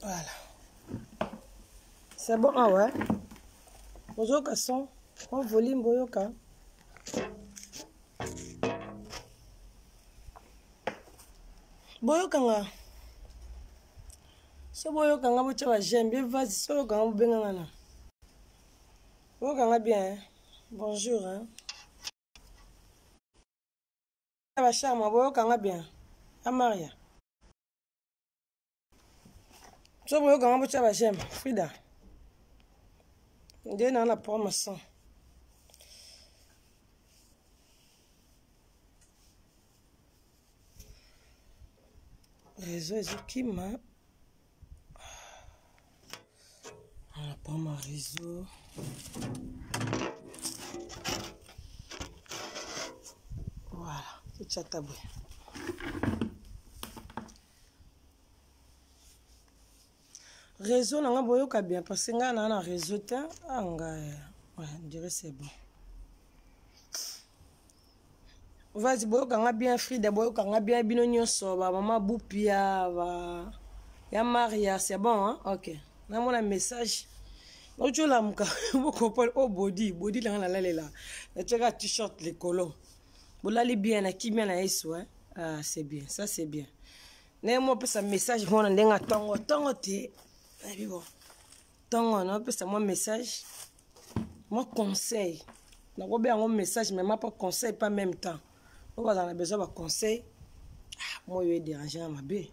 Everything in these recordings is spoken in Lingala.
Voilà. C'est bon, ah ouais. Ozoka son, on volume boyoka. Boyoka nga. So boyoka nga bocha ba j'aime bien vas so yoka nga bobenga nga na. Boyoka nga bien. Hein? Bonjour hein. ba charme boyoka nga bien a maria so boyoka nga botya ba j'aime frida nde naa na promotion réseau ezokima Voilà, prends ma réseau. Voilà, c'est chataboué. réseau na nga boyoka bien parce que ngai naa na réseau te anga ah, ouais, dire c'est bon vas boyoka nga bien frida boyoka nga bien bino nyonso bamama bupia ba ya maria c'est bon hein? ok namona message nauti olamuka bokopole o oh, bodi bodi langa nalalela natiaka t-shirt likolo bolali bien na kimia na yesu hein? ah, c'est bien ça c'est bien naye mo opesa message mona ndenge ntongo ntongo te nayebi bo ntongo naopesa mwa message mwa conseil nakobe yango message mema mpo conseil pas même temps oyo bazala na besoin baconseil ah, moi oyo edérange na mabe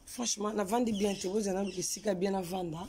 franchement navandi bien te bozala na luka esika bien navanda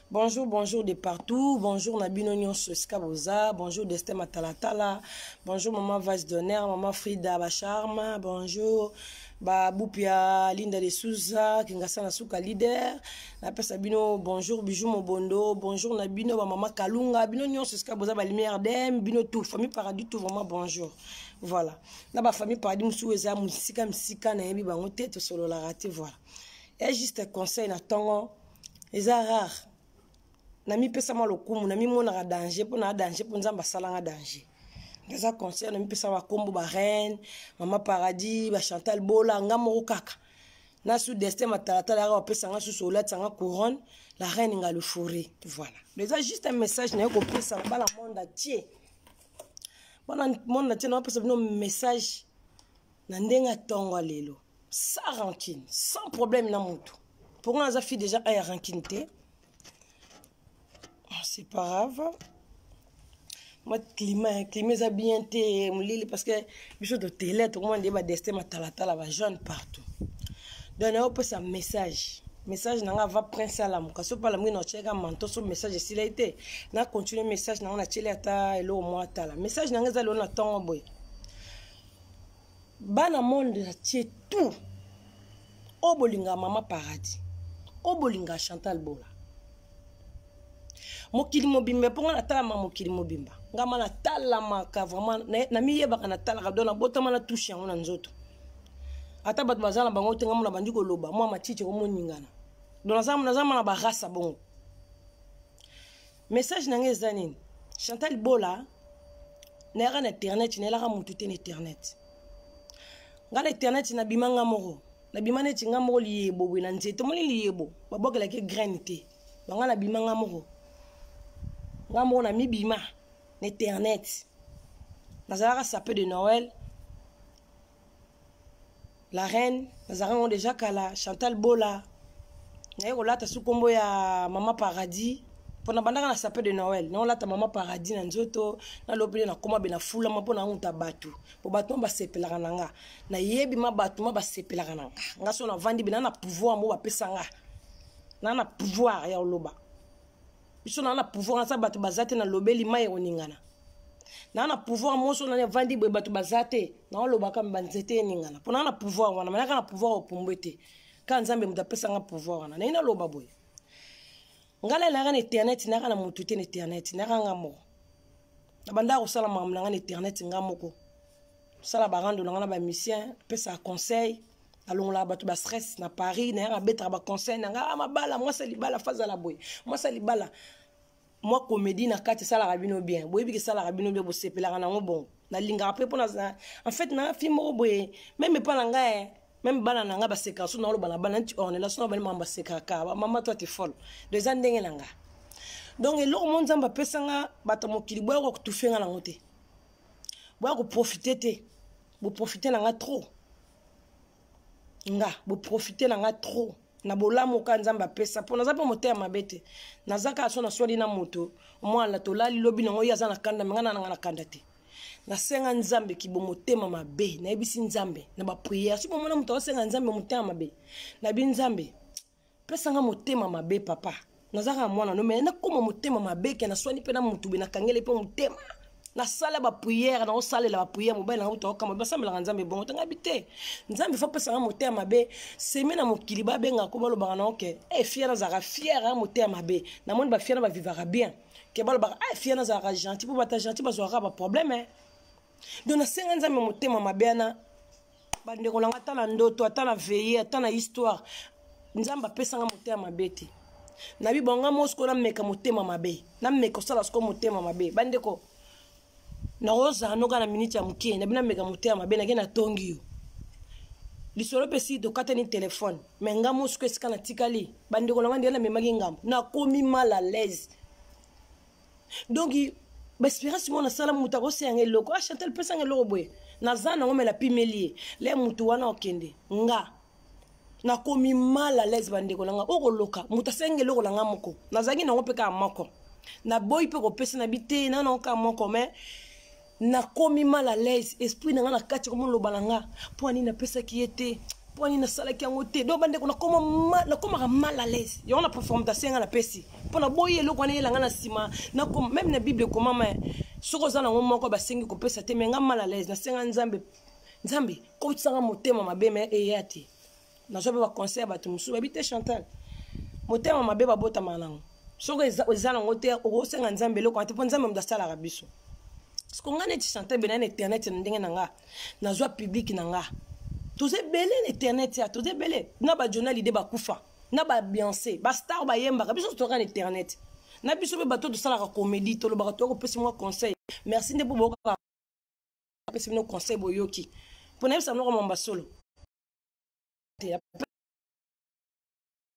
Bonjour, bonjour de partout. Bonjour Nabino Nyonso Skaboza. Bonjour Destin Matalatala. Bonjour Maman Vice d'honneur, Maman Frida Bacharma. Bonjour Babupia Linda de Souza, Kingasana Suka leader. Napesa bino bonjour Bijou Mobondo. Bonjour Nabino ba Maman Kalunga. Bino Nyonso Skaboza ba lumière dem. Bino tout famille paradis tout vraiment bonjour. Voilà. Na ba famille paradis musu eza musika musika na yebi bango te to solo la raté voilà. Et juste conseil na tongo eza rare namipesa mwa lokumu namimonaka danger mpo naa danger mpo nzambe asalanga danger eza concert namipesa bakombo bareine mama paradis bachantal bola nga moko kaka na su destin matalatala yaka bapesa nga susu olatisa nga couronne la reine nga lefore voilà eza juste un message naye kopesa na bana monde atie bana monde atie naopesa bino message na ndenge atonga lelo sans rancune sans problème na motu mpo nga naza fille déjà aya rancune te ah, c'est pas grave mwa climat climat eza bien te molili parce que biso totele tokomona nde badestin matalatala bajeune partout donc nayo opesa message message na nga va prince alamuka soki alamuki na otyelaka manto so message esila ye te na continue message na nga natyeli ata eloko mwa atala message na nga eza lelo na ntongo boye bana monde atie tout oyo bolinga mama paradis oyo bolinga chantal bola mokili mobimba mpo ngai natalama mokili mobimba ngai ma natalamaka vraiment namiyebaka natalaka do nabotama na touche yango na nzoto ata bato baza na bango te ngai mona bandi koloba mwa matiti ekomoningana do nazama na barasa bongo message na ngai eza nini chantal bola nayaka na internet nayelaka motu te na internet ngai na internet nabima ngai moko nabima neti ngai moko liyebo boye na nzete omoni liyebo babwakelaki graine te bangai nabima ngai moko ngai moko namibima na internet nazalaka sape de noël la reine nazalaka yango deja kala chantal bola naye kolata su nkombo ya mama paradis mpo nabandaka na sape de noel naolata mama paradis na nzoto nalobeli nakoma be nafulama mpo naunta bato mpo bato ma basepelaka na nga nayebi ma bato ma basepelaka na nga nga so navandi be na na pouvoir mo bapesa nga na na pouvoir ya koloba biso naa na pouvoir aza bato baza te nalobeli mai ekoningana naa na pouvoir moso nani avandi boye bato baza te naolobaka me banzete eningana mpo naa na pouvoir wana manaka na pouvoir opumbwe te kaka nzambe moto apesanga pouvoir wana naye naloba boye ngai nalaka na internet naka na motu te na internet naka nga moko na bandaka kosala makambo na ngai na internet nga moko sala ba rando nanga na ba musicien pesa conseil nalongolaka bato ba stress na paris nayaka abetaka ba conseil nanga ah, mabala mwasa libala fazala boye mwasa libala mwa comédie na kati esalaka bino bien boyebi kesalaka bino bien bosepelaka nango bongo nalingaka mpe mpona en fait na fi moko boye meme epa na ngai eh, meme bana na ngai basekaka so naoloba na bana nti ornela so na bani mama basekaka mama to ate folo do eza ndenge na ngai donc eloko mo nzambe apesa nga bato mokili boyaka kotufe nga nango te boya koprofite te boprofite na nga trop nga boprofite na nga trop na bolamu ka nzambe apesa mpo naza mpe motema mabe te naza kaka so naswali na moto omwana tolali lobi nango ye aza na kanda me nga na nanga na kanda te nasenga nzambe kibo motema mabe nayebisi nzambe na bapriere soki omona moto aosenga nzambe motema mabe nayebi nzambe pesa nga motema mabe papa naza kaka mwana no mai nakoma motema mabe ke naswani mpe na motu be nakangeli mpe motema nasala bapriere naosalela bapriere mobali na uta okama basambelaka nzambe bongo tangabi te nzambe fo apesaka motema mabe semi na mokili babengaka ko balobaka na oke e eh, fiere azalaka fiere eh, motema mabe namoni bafiere bavivaka bien ke balobaka e eh, fiere azalaka gentil mpo bata gentil bazwaka baproblème donc nasenga nzambe motema mabe wana bandeko na nga ata na ndoto ata na veille ata na histoire nzambe apesanga motema mabe te nabi bonga mo sikoyo nameka motema mabe nameka osala sikoyo motema mabe bandeko nakozala noka na miniti ya moke nabi nameka motema mabe nake natongi yo lisolo mpe si tokatani telefone me nga mo sikoyo esika natikali bandeko na nga ndenge namemaki ngambo nakomi mal à l'aise donc baespérance moko nasala moto akosa yanga eloko a ah, chantel pesanga eloko boye naza nango me napimeli ye le motu wana okende nga nakomi mal à l'aise bandeko na nga okoloka moto asengi eloko na nga moko nazalaki nango mpe kaka moko naboyi mpe kopesa na biteyi na nango kaka moko mais nakomi mal à l'aise esprit na nga na kati komona loba na nga mpo ani napesaki ye te mpo ani nasalaki yango te donc bandeko nakomaka mal à l'aise yango na performtation nga napesi mpo naboyi eloko wana eyelanga na nsima meme na bible ekomama soki oza nango moko basengi kopesa te me nga mal à l'aise nasenga nzambe nzambe kotisanga motema mabe me eya te nazwa mpe baconseil ya bato mosusu bayebi te chantal motema mabe babotama nango soki eza nango te okosenga nzambe eloko te mpo nzambe moto asalaka biso siko ngai neti chantal bena na internet na ndenge na nga nazwa publike na nga toza ebele na internet ya toza ebele na bajona lide bakufa na babiance bastar bayembaka biso totoka na internet na biso mpe bato tosalaka comédie tolobaka toya kopesa mwa conseil merci nde mpo boyokaka apesa bino conseil boyoki mpo nayebisa noko mamba solo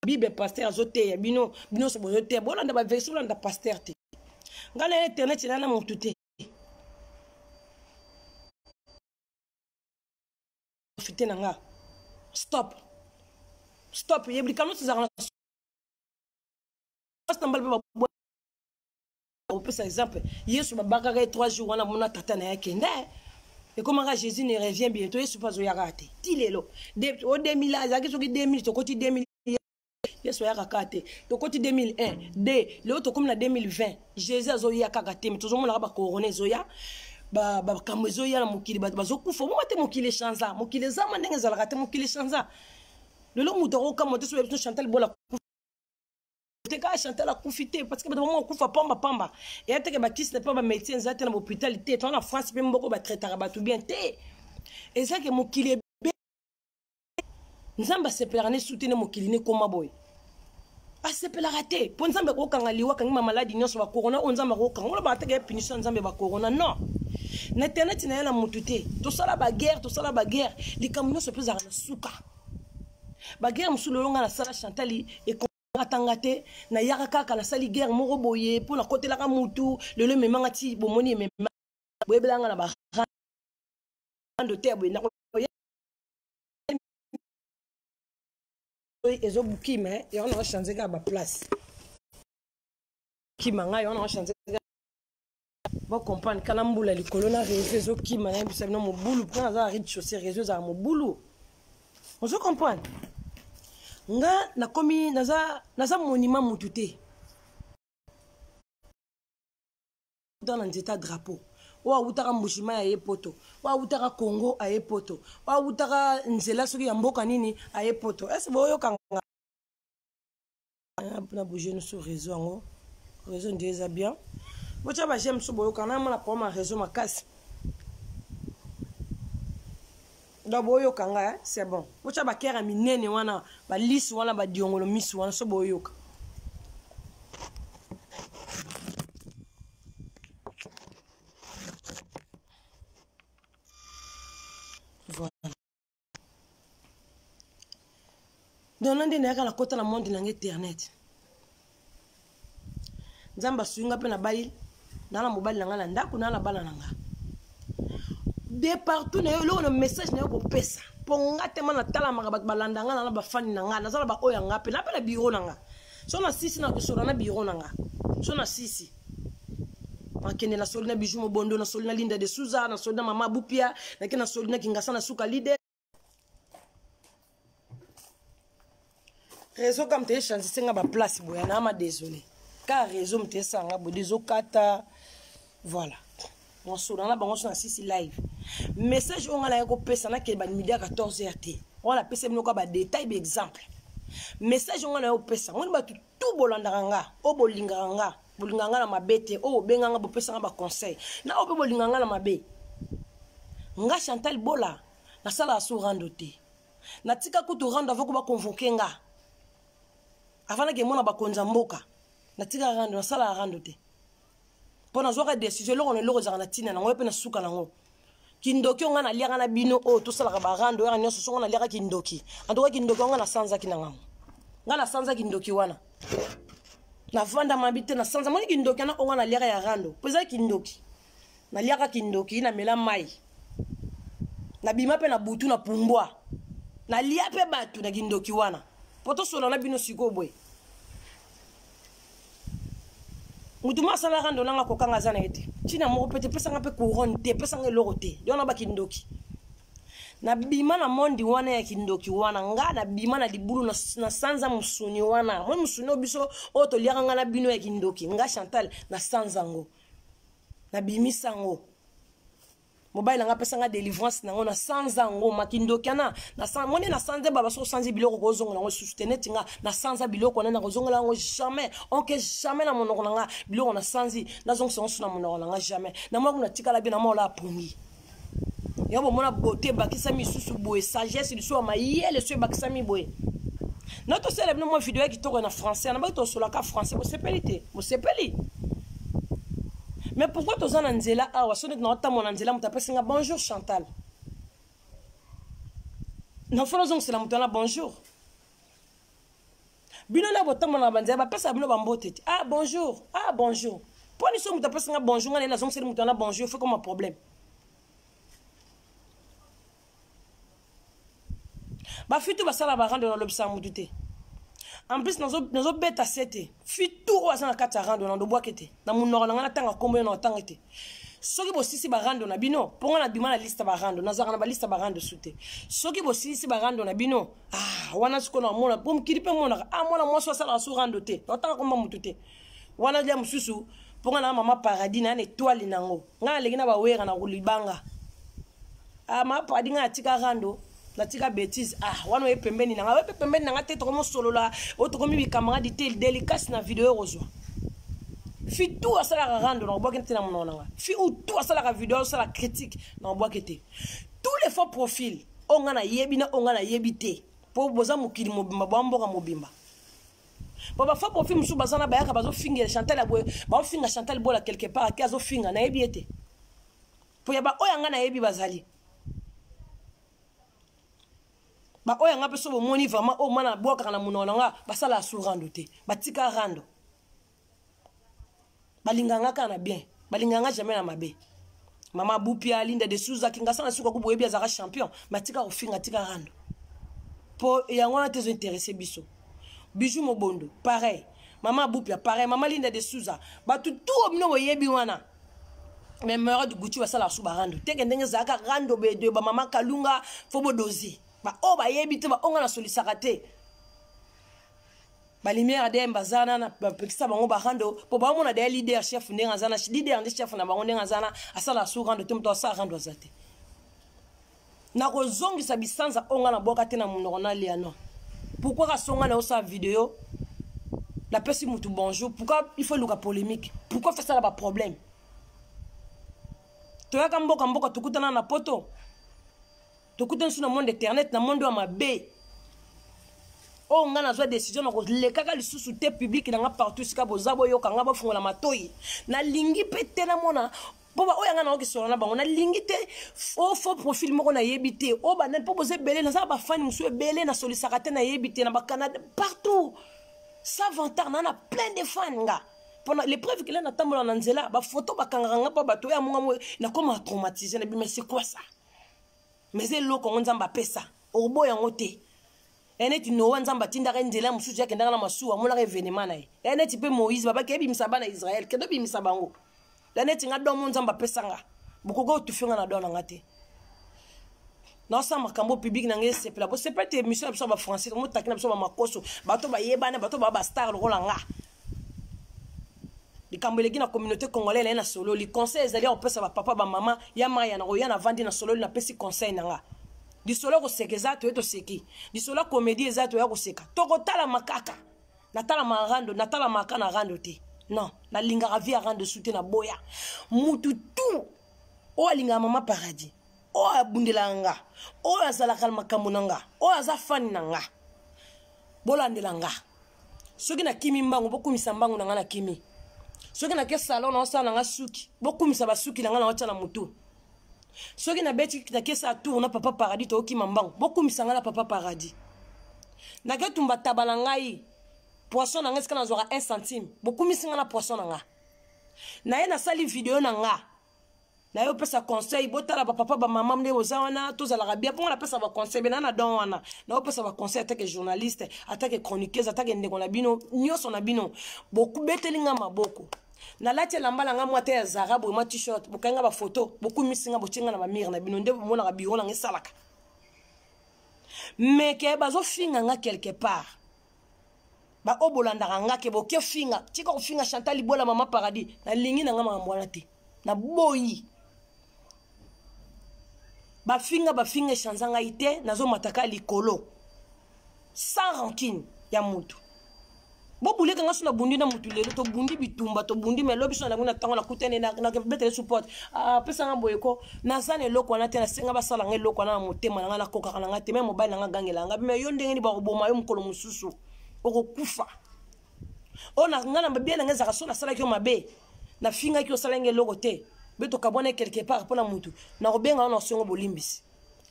bible pasteur azoteya bino bino nyonso bozoteya bolanda baversion bolanda pasteur te ngai na internet ela na motu te profite na nga stop stop yebi likambo nyonso ezalaka na mbala mpe opesa exemple yesu babakaka ye 3 jours wana mona tata na ye akende ekomaka jésus ne revient bientôt yesu mpe azoyaka te ti lelo o 2000 azalaki soki 2000 tokoti 2000 yesu ayaka kaka te tokoti 2001 de lelo tokomi na 2020 jésus azoya kaka te me tozomonaka bakorona ezoya bakambo ba ezoya na mokili bato bazokufa omoma te mokili echanza mokili ezama ndenge ezalaka te mokili echanza lelo moto akokamwa te soki biso chantal bola te kaka chantal akufi te parce que bato bango bakufa pamba pamba eya teke bakisi na mpe bamédecin eza te na bahôpital te toa na france mpe mboko batraitaka bato bien te eza ke mokili ebe nzambe asepelaka ne su te ne mokili ne koma boye asepelaka te mpo nzambe akokanga liwa akangi bamaladi nyonso bakorona oyo nzambe akokanga wana baateke ya punition ya nzambe bakorona non na internet na ye na motu te tosala baguerre tosala baguerre likambo nyonso mpe ezalaka na suka baguerre mosusu lelo ngai nasala chantali atanga te nayaka kaka nasali guerre moko boye mpo nakotelaka mutu lelo ememanga ti bomoni emema boyebelanga na barando te boye ezobuki me yango nanga change kaka baplace kima ngai yango nanga change bocomprendre kala mbula likolo na réseau ezokima nayebisa bino mobulu mpona aza ride chaussé réseau ezala mobulu ozo comprendre nga nakomi naza, naza monima mutu te dans na nzeta drapeau oyo awutaka mbushima aye poto oyo awutaka congo aye poto oyo awutaka nzela soki ya mboka nini aye poto ese boyokanga ah, na bouge no sur réseau yango réseau nde eza bien botya ba j'aime so boyokana na mona problème ya réseau makasi donc boyoka nga eh? c'est bon botya bakere ya minene wana balisi wana badiongolo misi wana so boyoka dona nde nayaka nakota na monde nanga internet nzambe asui nga mpe nabali naa na mobali na nga na ndako naa na bana na nga de partout na yo eloko na message na yo kopesa mpo nga tema natalamaka bato balanda nga na na bafani na nga naza na baoyo ya nga mpe napela biro na nga so na sisi na kosola na biro na nga so na sisi nakende na soli na bijou mobondo na soli na linda de souza na soli na mama bupia nake na soli na kingasa na suka lide réseau kam te echanzise nga baplace boya na ama désolé ka réseau mte esanga boye ezokata voilà nasola na bango so na sisi live message oyo nga nayaki kopesa nakende bamidi ya 14 heure te wana napesa bino kwa badetail baexemple message oyo nga nayo kopesa ngoni bato tout bolandaka nga oyo bolingaka nga bolingaka nga na mabe te oyo bobenga nga bopesa nga baconseil na oyo mpe bolingaka nga na mabe nga chantal bola nasalaka so rando te natika kutu rando avo ko baconvoke nga avanaki emona bakonzi ya mboka natika rando nasalaka rando te mpo nazwaka decision eloko na eloko ezalaka na ntina nango mpe na suka nango kindoki oyo ngai naliaka na bino oyo tosalaka barando yaka nyonso songo naliaka kindoki antoka kindoki yango ngai nasanzaki na ngango ngai nasanza kindoki wana navanda mabi te nasanza moni kindoki wana oyo ngai naliaka ya rando mpo ezali kindoki naliaka kindoki namela mai nabima mpe na butu na pumbwa nalia mpe bato na kindoki wana mpo tosolola na bino sikoyo boye motu ma asalaka ndo nanga kokanga aza na ye te ntina moko mpe te pesanga mpe couronne te pesanga eloko te yo na bakindoki nabima na mondi wana ya kindoki wana nga nabima na libulu na, na sanza mosuni wana moi mosuni oyo biso oyo toliaka nga na bino ya kindoki nga chantal na sanza yango nabimisa yango mobali nanga apesa nga délivrance nango na sanza yango makindoki ana moni na sanza baba soki osanzi biloko kozongela yango lisusu te neti nga na sanza biloko wana nakozongela yango jamais oke jamais na monoko na nga biloko na sanzi nazongisa yango su na monoko na nga jamais namonaki natikala bie na maola apongi ya bomona bote ebakisami lisusu boye sagesse lisusu ya mayele so ebakisami boye na tosala bino mwa video ya kitoko na français nabaki tosolaka français bosepeli te bosepeli mais pourquoi toza na nzela awa so neti naotambola na nzela moto apesi nga bonjour chantal nafona ozongisela moto wana bonjour bino na botambola na banzela bapesa bino bambote te ah bonjour ah bonjour mpo niso moto apesi nga bonjour nga naye nazongiseli moto wana bonjour fe koma problème bafitu basala barando na lobisaka motu te en plus nazobeta se te fitu oyo aza na kati ya rando na ndobwake te na monoko na ngai natanga nkombo yo na otanga te soki bosilisi barando na bino mpo ngai nabima na liste barando nazalaka na baliste barando su te soki bosilisi barando na bino ah, wana sikoyo namona mpo mokili mpe monaka ah, mwana mwasi asalaka su rando te otanga komba motu te wana lia mosusu mpo nga na mama paradis na na etoile nango nga naleki na bawera na kulibanga ah, mama paradis nga natika rando natika bétise ah wana oye pembeni na nga oye mpe pembeni na nga te tokomosolola oyo tokomi bicamarade te delicase na video ekozwa fi tu asalaka rando na kobwaki te na monoko na nga fi ou tu asalaka video asala critique na kobwaki te tous les faux profil oyo nga nayebi na oyo nga nayebi te mpo boza mokili mobimba bwa mboka mobimba po bafo profi mosusu baza na bayaka bazofinga chantal ya boye baofinga chantal bola quelque part ake azofinga nayebi ye te po ya baoyo yanga nayebi bazali baoyo yanga mpe so bomoni vraiment oyo oh, mana bwakaka na monoko na nga basala ya su rando te batika rando balinganga kaka na bien balinganga jamais na mabe mama bupia linda de souza kingasa na suka kuboyebi azalaka champion matika kofinga tika rando mpo yango wana te ezointeresse biso bijou mobondo pareil mama abupia pareil mama linda de souza bato tuo bino boyebi wana mais mara de gucci basalaka su barando teke ndenge ezalaka rando bedoye bamama kalunga fo bodozi baoyo bayebi te baoyo nga nasolisaka te balimiere dm baza na bapekisa bango barando mpo baomona deye lider chef ndenge aza na lider nde chef na bango ndenge aza na asala su rando te moto asala rando aza te nakozongisa bisanza oyo ngai nabwaka te na monoko na liano pourkui kasonga na osala video napesi motu bonjour pourkui il faut eluka polémique pourkui fesala baproblème toyaka mboka mboka tokutana na poto tokutani su na monde internet na monde ya mabe oyo oh, ngai nazwa décision na kolekaka lisusu te publike na ngai partout esika boza boyoka ngai bofungola matoi nalingi mpe te namona mpo baoyo yanga nango kisola na bango nalingi te o fo profil moko nayebi te o oh, banani mpo boza ebele nazala bafani mosusu ebele nasolisaka te nayebi te na bacanada partout savantar naa na plein de fan nga mpona l'épreuve kela natambola na nzela bafoto bakangaka nga mpo bato oyo amonga mo nakoma traumatise na bima c'est quoi ça mais eloko yango nzambe apesa okoboya yango te e neti noa nzambe atindaka ye nzela mosusu akendaka na masuwa amonaka evenema na ye e neti mpe moïse babaki ebimisa bana israele kende obimisa bango e neti nga domo nzambe apesa nga bokoki otufe nga na do na nga te naosala makambo publike na ngai esepela bosepela te émission na biso ya bafrançais motaki na biso bamakoso bato bayebana bato baa bastar lokola nga likambo eleki na communauté congolais naye nasololi conseil ezali ya kopesa bapapa bamama ya maya na koya navandi nasololi napesi conseil na nga lisolo ya koseka eza toye toseki lisolo ya komedi eza toya koseka tokotalama kaka natalamaka rando natalamaka na rando te non nalingaka vie ya rando su te naboya mutu tu oyo alingaka mama paradis oyo abundelaka nga oyo azalaka na makambo na nga oyo aza fani na nga bolandela nga soki nakimi mbangu bokumisa mbangu na ngai nakimi soki nake salon naosala na ngai suki bokumisa basuki na ngai naotya na motu soki nabeti nakesa tour na papa paradis tookima mbangu bokumisa ngai na papa paradis nake tumba taba na ngai poisson na ngai esika nazwaka 1 centime bokumisi ngai na poisson na ngai naye nasali video na ngai na yo pesa conseil botala bapapa bamama nde boza wana tozalaka bien mpo nga napesa baconseil bena na don wana na yo pesa baconseil atake journaliste atake chroniqueuse atake ndeko na bino nyonso na bino bokubeteli nga maboko nalati elamba na ngai mwa te ya zara boye mwa t-shirt bokai nga bafoto bokumisi nga botie nga na bamire na bino nde bomonaka biro na nga esalaka meke bazofinga nga quelque part ba oyo bolandaka nga ke boke finga tika kofinga chantal libwela mama paradis nalingi na nga makambo wana te naboyi bafinga bafinga echanza ngai te nazomataka likolo sans rancune ya motu bobuleka nga so nabundi na motu lelo tobundi bitumba tobundi ma lobi so nalangi na ntango nakutani nakebetele support apesanga ah, boyeko naza na eloko wana te nasenga basala nga eloko wana na motema na nga nakokaka na nga te me mobali na nga gangela nga me yo ndenge nini bakoboma yo mokolo mosusu okokufa oyo na nga na babia na nga ezalaka so nasalaki yo mabe nafingaki osala nga eloko te be tokabwana quelque part mpo na motu nakobenga yo na osongo bolimbisi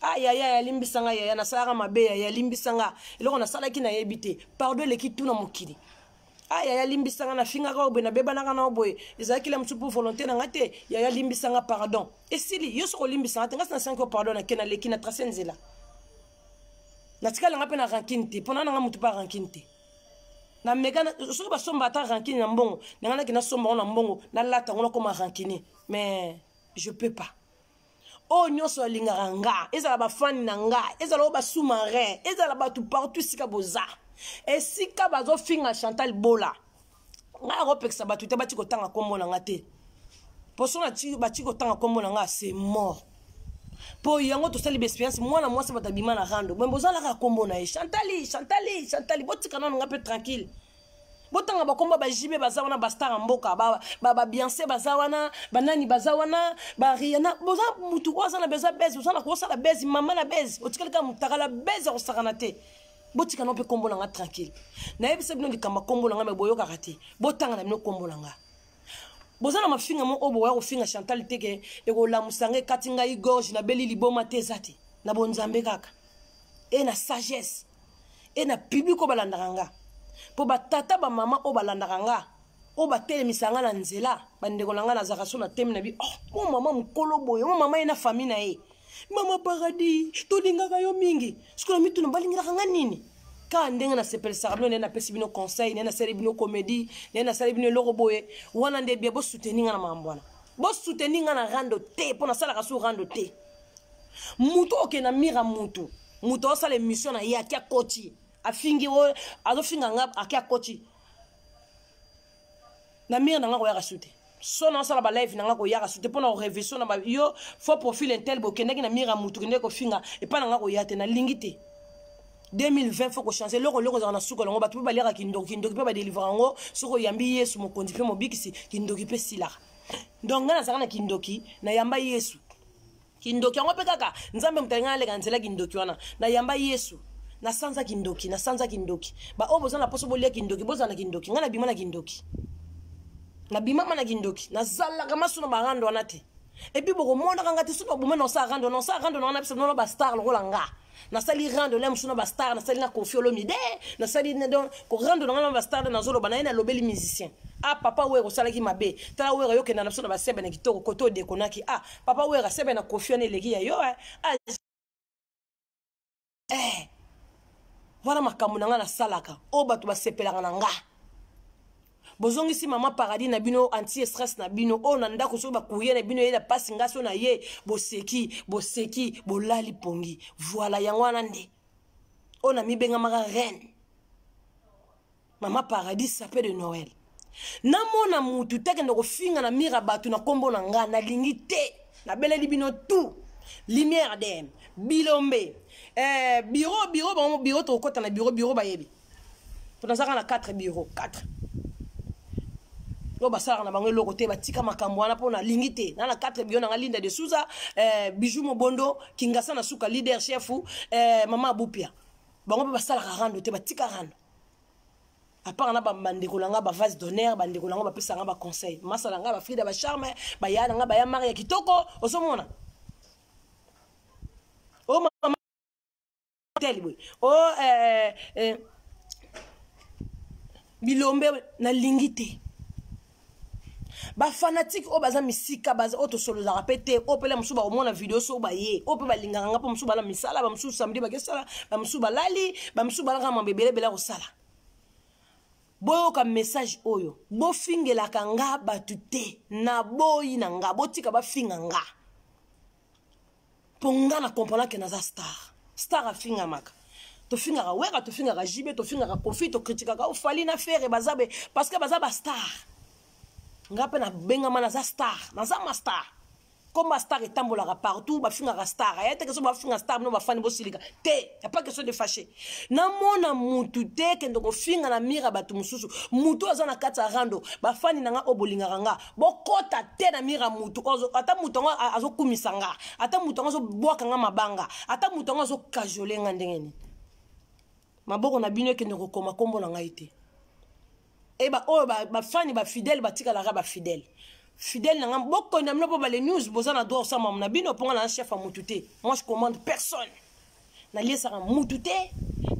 ah yaya yalimbisa nga yaya nasalaka mabe yaya yalimbisa nga eloko nasalaki nayebi te pardon eleki tu na mokili ah yaya limbisa nga nafingaka yo boye nabebanaka na yo boye ezalaki la mosusu mpo volonté na nga te yaya limbisa nga pardon esili yo soki olimbisa nga te nga si nasengi yo pardon nake naleki na trace nzela natikala nga mpe na rankine te mpo na nanga motu mpe arankine te na mega soki basomba ata rankine na mbongo nanga nake nasomba yango na mbongo nalata yango nakoma rankine mais je peux pas oyo nyonso alingaka nga ezala bafani na nga ezala oyo basous-marin ezala bato partout esika boza esika bazofinga chantal bola ngai akopekisa bato te bati kotanga nkombo na nga te poso bati kotanga nkombo na nga se mort mpo yango tosali baexperience mwana mwasi bato abima na rando bombe ozalaka nkombo na ye chantali chantali chantali botika nano nga mpe tranquille botanga bakomba bajibe baza wana bastar ya mboka babiance baza wana banani baza wana bariana boza motu oyo aza na beza bese oza na kosala bese mama na bese otikali kaka motakala bese akosakana te botika no mpe nkombo na nga tranquille nayebisa bino likambo ya nkombo na nga me boyokaka te botanga na bino nkombo na nga boza na mafinga moko oyo bokoya kofinga chantal te ke ekolamusa nga ekati ngai gorge nabeli liboma te eza te na bonzambe kaka e na sagesse e na public oyo balandaka nga mpo batata bamama oyo balandaka nga oyo batelemisa nga na nzela bandeko na nga nazalaka so na temi na bi oh, mwa mama mokolo boye mwa mama ye na fami na ye mama paradis tolingaka yo mingi sikoyo na mituna balingaka nga nini kaka ndenge nasepelisaka bino naye napesi bino conseil naye nasali bino comédie naye nasali bino eloko boye wana nde bia bosuteni nga na makambo wana bosuteni nga na rando te mpo nasalaka su rando te mutu oke na mira mutu mutu aosala emission na ye ake akoti afingi oyo azofinga nga ake akoti na mira na nga koyaka su te so nasala balive na nga koyaka su te mpo na koreveso na ba yo fo profil intel bokendaki na mira mutu kendeki kofinga epai na nga koya te nalingi te 2020 faut kochange eloko eloko ezalaka na suka yango bato mpe baliaka kindoki kindoki mpe badelivraka yango soki oyambi yesu mokonzi mpe mobikisi kindoki mpe esilaka donc ngai nazalaka na kindoki nayamba yesu kindoki yango mpe kaka nzambe moto alinga aleka na nzela kindoki wana nayamba yesu na sanza kindoki na sanza kindoki baoyo boza na mposo bolia kindoki bozala na kindoki ngai nabima na kindoki nabimama na kindoki nazalaka maso na barando wana te epuis bokomonaka ngai te soki baboma na osa arando na osa arando na wana biso nono bastar lokola ngai nasali rando na mosusu na bastar nasali na kofi olomide nasali donc korando na ngai na bastar nde nazoloba na ye nalobeli musicien ah papa wera osalaki mabe tala wera yokenda na biso na basebe na kitoko kote odekonaki ah papa wera sebe na kofi wana eleki ya yo eh. ah. eh. wana makambo na ngai nasalaka oyo bato basepelaka na ngai bozongisi mama paradis na bino anti stress na bino oyo na ndako soki bakurie na bino eyela mpasi nga so na ye boseki boseki bolali pongi voila yango wana nde oyo namibengamaka reine mama paradis sape de noël namona mutu te akenda kofinga na mira bato na nkombo na nga nalingi te nabeleli bino tout lumière dm bilombe eh, biro biro bango biro tokokɔta na biro biro bayebi mpo naza kaka na 4 bureau 4 oyo basalaka na bango eloko te batika makambo wana mpo nalingi te na na 4 bio nanga linda de souza eh, bijou mobondo kingasa na suka leader chef eh, mama abupia bango mpe basalaka rando te batika rando apart na bandeko na ngai bavase d'honneur bandeko na ngai bapesa ngai baconseil masa na ngai bafrida bacharme baya na ngai baya mari ya kitoko ozomona tel boye o oh, eh, eh, bilombe nalingi te bafanatike oyo baza misika baza oyo tosololaka mpe te oyo mpela mosusu bakomona video so baye oyo mpe balingaka nga mpo mosusu bala misala bamosusu samedi bakesala bamosusu balali bamosusu balaka mambo ebelebele akosala boyoka message oyo bofingelaka nga bato te naboyi na nga botika bafinga nga mpo nga na comprendre ke naza star star afingamaka tofingaka wera tofingaka jibe tofingaka kofi tokritikaka ofali na fere baza be parce que baza bastar nga mpe nabengama naza star naza ma star koma star etambolaka partout bafingaka star aya te keso bafinga star bino bafani bosilika te ya pas question de fache namona mutu te kende kofinga na mire ya bato mosusu motu aza na kati ya rando bafani na nga oyo bolingaka nga bokota te na mira mutu ata mutu yango azokumisa nga ata mutu yango azobwaka nga mabanga ata mutu yango azokajole nga ndenge nini maboko na bino ekende kokoma nkombo na ngai te e baoyo bafani bafidele batikalaka bafidele fidèle na nga bokoni na bino mpo bale news boza na droit osambama na bino mpo nga na chef ya mutu te moi je commande personne naliesaka mutu te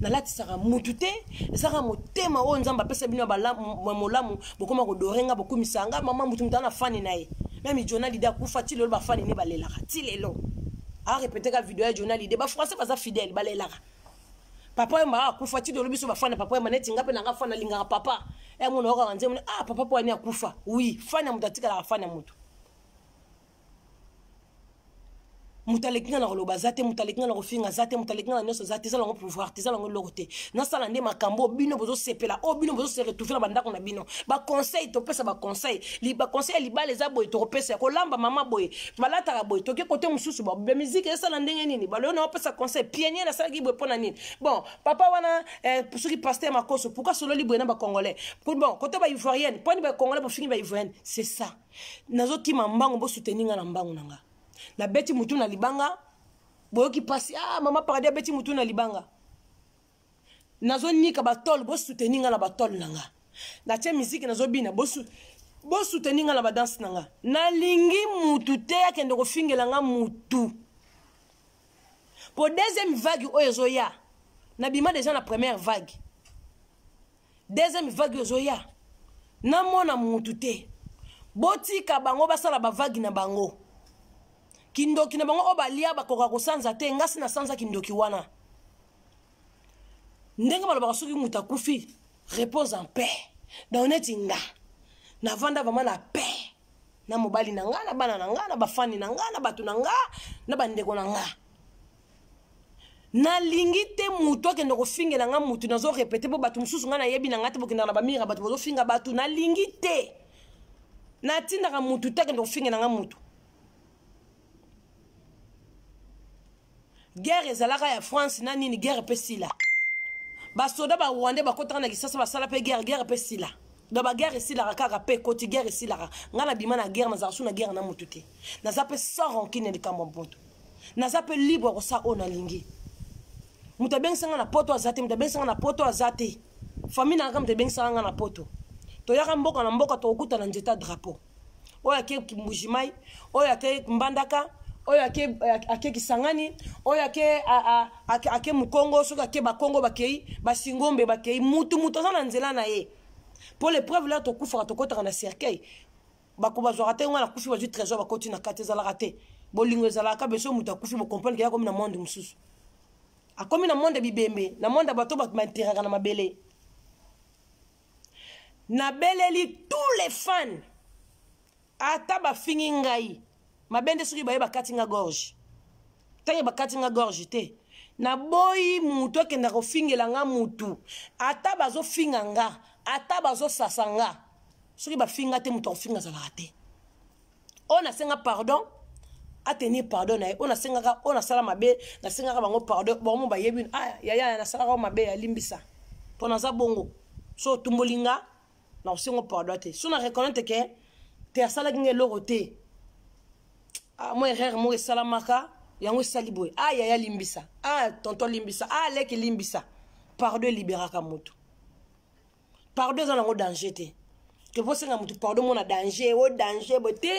nalatisaka mutu te ezaka motema oyo nzambe apesa bino ya molamu bokoma kodore nga bokumisa nga mama mutu mutu ana fani na ye meme jona lide akufa ti lelo bafani ne balelaka ti lelo arepeteka video ya jona lide bafrançais baza fidèle balelaka papa oyo maa akufa ti lelo biso bafani ya papa oyo maneti nga mpe nanga fani alingaka papa yango naokaka nzembo ah papa mpo ani akufa wi fani ya moto atikalaka fani ya moto moto aleki nga na koloba aza te moto aleki nga na kofinga aza te moto aleki nga na nyonso aza te eza nango pouvoir te eza nango eloko te nasala nde makambo oyo bino bozosepela oyo bino bozose retrouve na bandako na bino baconseil topesa baconseil baconseil ya libala eza boye tokopesa ya kolamba mama boye balataka boye toke kote mosusu bamiziki esala ndenge nini baloyo na opesa conseil pienier nasalaki boye mpo na nini bon papa wana eh, soki paster makoso pourkui asololi boye na bacongolais bon kote baivoirienne mponi bacongolais bofingi baivoirienne c'est ça nazo kima mbangu bo soutenir nga na mbangu na nga na beti mutu na libanga boyoki pasi ah mama paradis abeti mutu na libanga nazo nika ba tol bo soutenir nga na ba tol na nga na tie musique nazo bina bo bo soutenir nga na ba danse na nga nalingi mutu te akende kofingela nga mutu po deuxième vague oyo ezoya nabima deja na première vague deuxième vague ozoya namona mutu te botika bango basala bavagi na bango kindoki na bango oyo balia bakoka kosanza te ngasi nasanza kindoki wana ndenge balobaka soki moto akufi repose en paix donc neti nga navanda vraimen na paix na mobali na nga na bana na nga na bafani na nga na bato na nga na bandeko na nga nalingi te motu akende kofingela nga motu nazo repete mpo bato mosusu ngai nayebi na ngai te bokendaka na bamira bato bazofinga bato nalingi te natindaka motu te akende kofingela nga motu guerre ezalaka ya france na nini guerre mpe sila basoda barwandais bakotaka na kisasa basala mpe guerre guerre mpe sila donc baguerre esilaka kaka mpe ekoti guerre esilaka ngai nabima na guerre nazalaka su na guerre na motu te naza mpe sans rancune ya likambo ya motu naza mpe libre ya kosala oyo nalingi moto abengisa nga na poto aza te moto abengisa nga na poto aza te famille nanga moto ebengisaka nga na poto toyaka mboka na mboka tokokuta na nzete ya drapeau oyo ake mbujimai oyo ake mbandaka oyo ake, ake kisangani oyo ake, ake, ake mokongo soki ake bakongo bakei basingombe bakei mutu mutu aza na nzela na ye mpo lepreuve laa tokufaka tokotaka na cercueil bako bazwaka te ngai nakufi bazwi trésor bakoti na kati ezalaka te bolingo ezalaka kaka beso moto akufi bocomprendre keya akomi na monde mosusu akomi na monde bibembe na monde ya bato bato bainteraka na mabele nabeleli tous les fans ata bafingi ngai mabe nde soki baye bakati nga gorge ntango bakati nga gorge te naboyi motu akenda kofingela nga motu ata bazofinga nga ata bazosasa nga soki bafinga te moto akofinga azalaka te oyo nasenga pardon atenir pardon na ye oyo nasengaka oyo nasala mabe nasengaka bango pardon bango bayebi ah, yaya nasalaka mabe alimbisa mpo naza bongo so otumboli nga na kosengo pardon te so na reconnaitre ke te asalaki nga eloko te ah, mwa erreur moko esalamaka yango esali boye a ah, yaya limbisa a ah, tonto limbisa a ah, leki limbisa pardon eliberaka motu pardon eza nango danger te toposenga motu pardon mona danger o danger boye te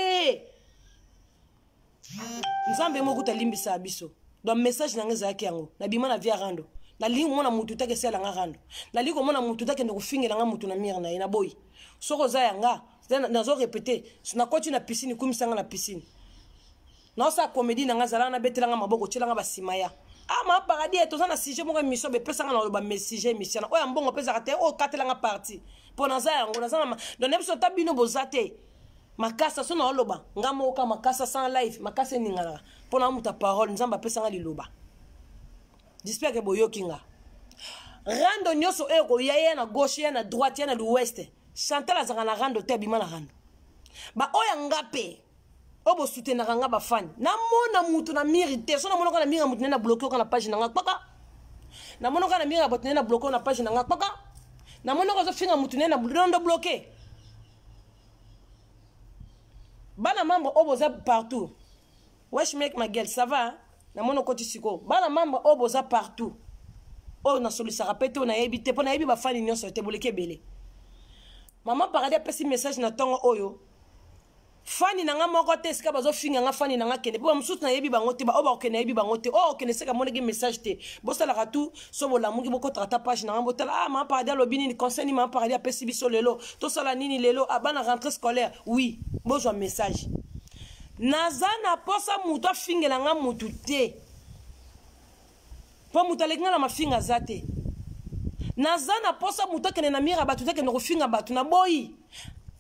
nzambe moko kuta alimbisa biso donc message na ngai ezalaki yango nabima na via rando nalingi komona motu te akesala nga rando nalingi komona motu te akende kofingela nga motu na mire na ye naboyi soki oza ya nga nazo repete nakoti na piscine kumisa nga na piscine naosala komedi na nga zalaka nabetela nga maboko otyela nga basima ya ah ma paradis toza na sujet moko émission bepesa nga na oloba me sujet émission na oyo ya mbongo opesaka te oyo katela nga parti mpo naza yango naza na donc na biso ta bino boza te makasa so naoloba nga moka makasa sans live makasa eninganaka mpo na moto ya parole nzambe apesa nga liloba jispia ke boyoki nga rando nyonso oyo koya ya na gauche ya na droite ya na l'ouest chantal azalaka na rando te abima na rando baoyo ya nga mpe oyo bosutenaka nga bafani namona moto na miri te so namonaka na miri ya moto nde na bloke oka na page na nga kpaka namonaka na miri ya bato nde na bloke oyo na page na nga kpaka namonaka ozofinga moto nde na blondo bloke bana membre oyo boza partout wesh make ma gueule ça va namoni okoti sikoyo bana membre oyo boza partout oyo nasolisaka mpe te oyo nayebi te mpo nayebi bafani nyonso te boleki ebele mama paradis apesi message na ntongo oyo fani na nga moko te esika bazofinga nga fani na nga kende mpo bamosusu nayebi bango te baoyo bakokende nayebi bango te oyo okende seka amonaki message te bosalaka tu so bolamuki bokotaka ata page na ngai botala ah ma paradis alobi nini conseil nini ma paradis apesi biso lelo tosala nini lelo ah, bana rentrée scolaire oui bozwa message naza na posa motu afingela ngai motu te mpo motu aleki ngai na mafinga aza te naza na posa motu akende na mire ya bato te akende kofinga bato na boyi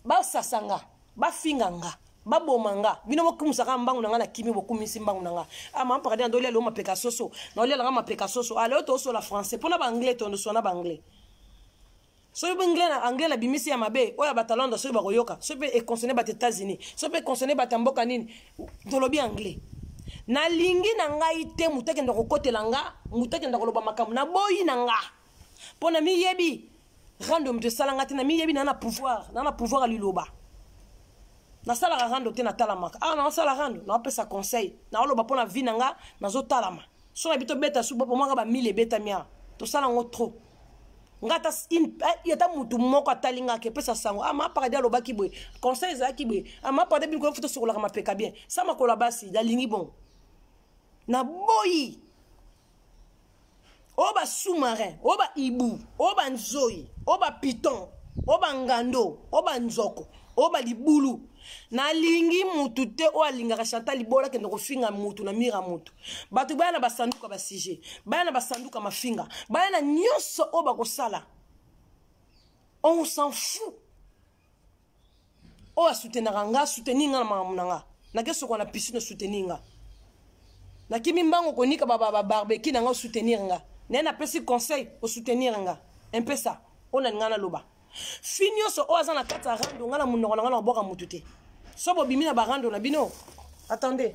basasa ngai bafinga nga baboma nga bino bokumisaka mbangu na nga na kimi bokumisi mbangu na nga ah, mama pakadi na ndoli alio mapeka soso na oli alanga mapeka soso aleo ah, tosola français mpo na baanglais tondoswa na baanglais soki mpe anglais na anglais na bimisi ya mabe oyo ya batalanda soki bakoyoka soki mpe econcerne bato états-unis soki mpe econcerne bato ya mboka nini tolobi anglais nalingi na ngai te moto akenda kokotela nga moto akenda koloba makambo naboyi na nga mpo na miyebi rando moto esala nga te na miyebi na na pouvoir na na pouvoir ya liloba nasalaka rando te natalamaka awa ah, naosala rando naopesa conseil naoloba mpo na vi na nga nazotalama so na bi tobeta su bopo mwaka bamile ebetami awa tosala yango trop nga ata eh, ata motu moko atali nga ke pesa sango ama ah, paradi alobaki boye conseil ezalaki boye ama ah, paradi bini koyoki tosokolaka mapeka bien sa makolo ya basi nalingi bongo naboyi oyo ba sous-marin oyo ba ibu oyo ba nzoi oyo ba piton oyo ba ngando oyo ba nzoko oyo ba libulu nalingi mutu te oyo alingaka chanta libola akende kofinga mutu na mira mutu bato baya na basanduka basujet baya na basanduka mafinga baya na nyonso oyo bakosala on s'en fout oyo asutenaka nga suteni nga na makambo na nga nake sokola na piscine osuteni nga nakimi mbango konika babarbeki na nga osoutenir nga naye napesi conseil osoutenir nga mpe sa oyo nalinga naloba fi nyonso oyo aza na kati ya rando nga na monoko na nga na kobwaka motu te so bobimi na barando na bino attendez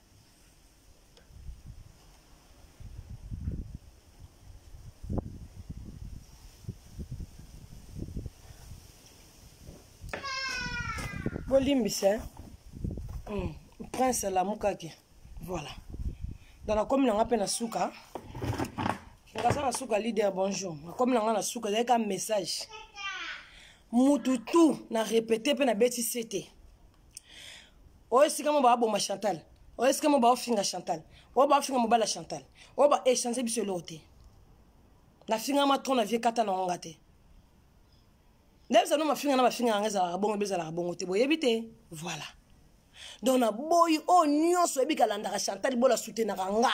bolimbisa eh? mm. prince alamukaki voilà donc nakomi na nga mpe na suka ngaza na suka leader bonjour nakomi na nga na suka ezalaki ka message mutu tu na repete mpe nabeti sete oyo esika mo baaboma chantal oyo esika mo baofinga chantal oyo baofinga mobala chantal oyo baechange biso eloko te nafingama tro na vie kata nango nga te ndebisa no mafinga na bafinga yanga ezalaka bongo bezalaka bongo te boyebi te voilà donc naboyi oyo oh, nyonso oyebi kalandaka chantal bola soutenaka nga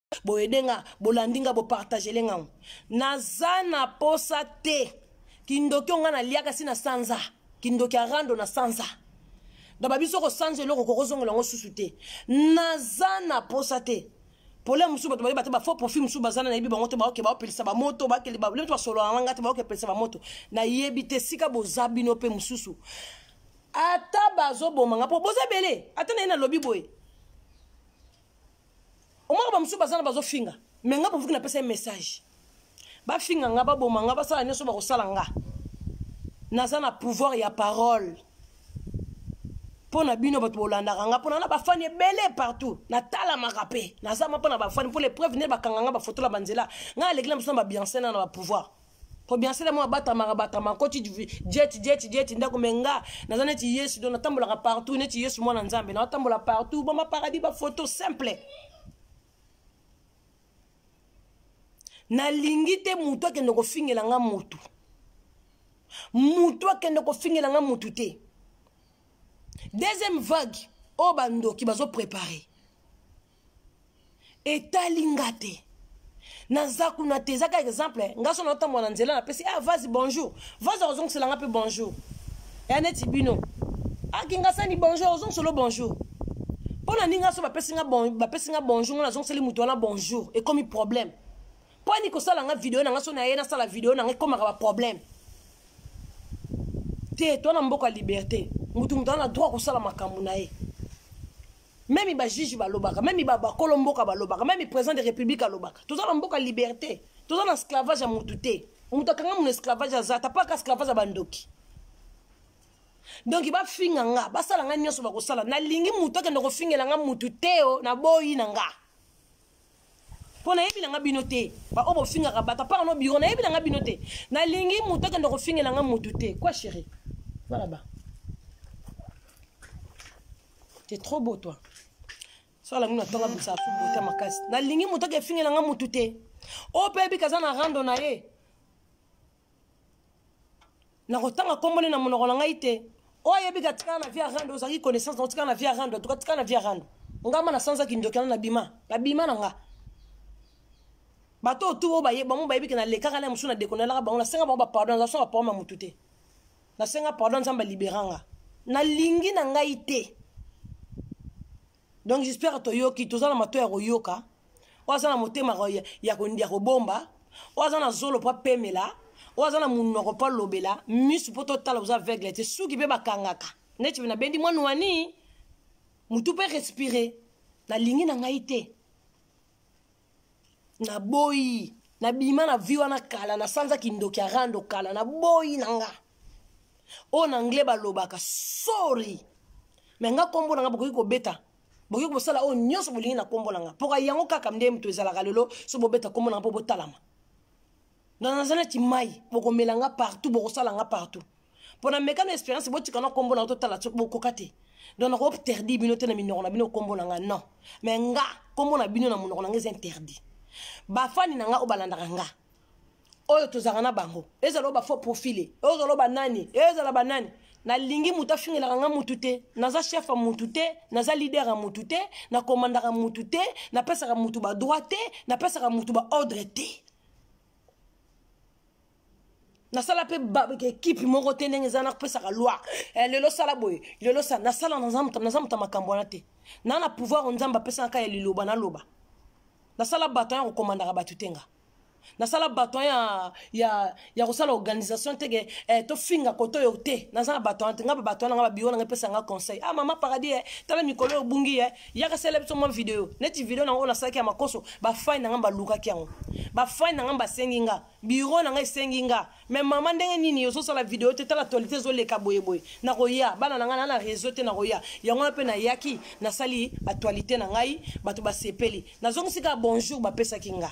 boyede nga bolandi nga bopartagele nga naza na posa te kindoki onga naliaka si na sanza kindoki ya rando na sanza daba biso kosanza eloko kokozongela yango susu te naza na posa te pole mosusu bato bayeba te bafaux profil mosusu bazana nayebi bango te baoke baopelisa bamoto bakeli babiloko basolola na ngai te baoke pelisa bamoto nayebi te esika boza bino mpe mosusu ata bazoboma nga mpo boza ebele ata naye nalobi boye omaka bamosusu baza na bazofinga me nga bovuki napesa ye message bafinga nga baboma nga basala nyonso bakosala nga naza na pouvoir ya parole mpo na bino bato bolandaka nga mpona na bafani ebele partout natalamaka mpe naza mwa mpo na bafani mpo lepreuve nde bakanga nga bafotola banzela ngai aleki na biso na babiancena na bapouvoir kobiansela mwa batamaka batama koti jeti jeti jeti ndako me nga naza neti yesu do natambolaka partout neti yesu mwana nzambe naotambola partout boma paradis bafoto simple nalingi te motu akende kofingela nga motu motu akende kofingela nga motu te deuxième vague oyo oh, bandoki bazoprepare etali nga te naza kuna te ezaka exemple nga so naotambola na nzela napesi ah, vasi bonjour vasi akozongisela nga mpe bonjour ya neti bino akingasani ah, bonjour ozongisolo bonjour mpo na ndinga so bapesi nga bon, bonjour nga nazongiseli moto wana bonjour ekomi problème mpo ani kosala nga video na nga so naye nasala video na nga ekomaka baproblème te to na mboka ya liberté motu moto wana na droit kosala makambo na ye meme ba juge balobaka meme ba bakolo mboka balobaka meme président de république alobaka toza na mboka liberté toza na esclavage ya mutu te moto akanga mono esclavage aza ata paka esclavage ya bandoki donk bafinga nga basala nga nyonso bakosala nalingi moto akende kofingela nga motu teo na boyi na nga mpo nayebi na nga bino te baoyo bofingaka bato apara no biro nayebi na nga bino te nalingi moto akende kofingela nga motu te kua chéri valaba te trop beau toi sola mino atonga bisa afu bota makasi nalingi moto akefingela nga motu te oyo mpe yebika aza na rando na ye nakotanga nkombo nde na monoko na ngai te oyo ayebi ka tikala na via rando ozalaki connaissance na otikala na via rando atuka tikala na via rando ngama na sanza kindoki na bima na bima na nga bato oyo tu oyo baye bango bayebi ke nalekaka na mosusu na dekonelaka bango nasenga bango bapardon naza songa pardon ya motu te nasenga pardon nzambe alibera nga nalingi na ngai te donc j'espère toyoki toza na mato ya koyoka oyo aza na motema ya kobomba oyo aza na zolo mpo apemela oyo aza na monoko mpo alobela misu mpo totala oza aveugle te suki mpe bakangaka neti nabendi mwana wani motu mpe respire nalingi na ngai te naboyi nabima na vi wana kala na sanza kindoki ya rando kala naboyi na nga oyo na anglais balobaka sorry me nga nkombo na nga bokoki kobeta bokoki kosala oyo nyonso bolingi na nkombo na nga mpoka yango kaka nde moto ezalaka lelo so bobeta nkombo na nga mpo botalama na naza neti mai bokomela nga partout bokosala nga partout mpo na meka na expérience botika na nkombo na nga totala soki bokoka te donc nako interdit bino te na minoko na bino nkombo na nga non mais nga nkombo na bino na monoko na nga eza interdit bafani na nga oyo balandaka nga oyo tozalaka na bango ezala oyo bafaux profile oyo ozala oyo banani ezala banani nalingi moto afingelaka nga motu te naza chef ya motu te naza lider ya motu te nakomandaka motu te napesaka motu badroit te napesaka motu baordre te nasala mpe ekipe moko te ndenge eza nakopesaka loi eh, lelo sala boye lelo sa nasala naza moto makambo wana te na na pouvoir nzambe apesaka kaka ya liloba naloba nasala baton ya kokomandaka bato te nga nasala baton ya, ya, ya kosala organisation teke eh, tofinga koto oyo te naza na baton te nga babaton na nga babiro na nga epesa nga conseil ah mama paradis eh, tala mikolo oyo obungi eh, yaka sala biso mwa video neti video nango oyo nasalaki ya makoso bafani na ngai balukaki yango bafani na ngai basengi nga biro na ngai esengi nga me mama ndenge nini ozosala video te tala actualité ezoleka boyeboye nakoya bana na ngai naa na réseau te nakoya yango wana mpe nayaki nasali actualité na ngai bato basepeli nazongisi kaka bonjour bapesaki nga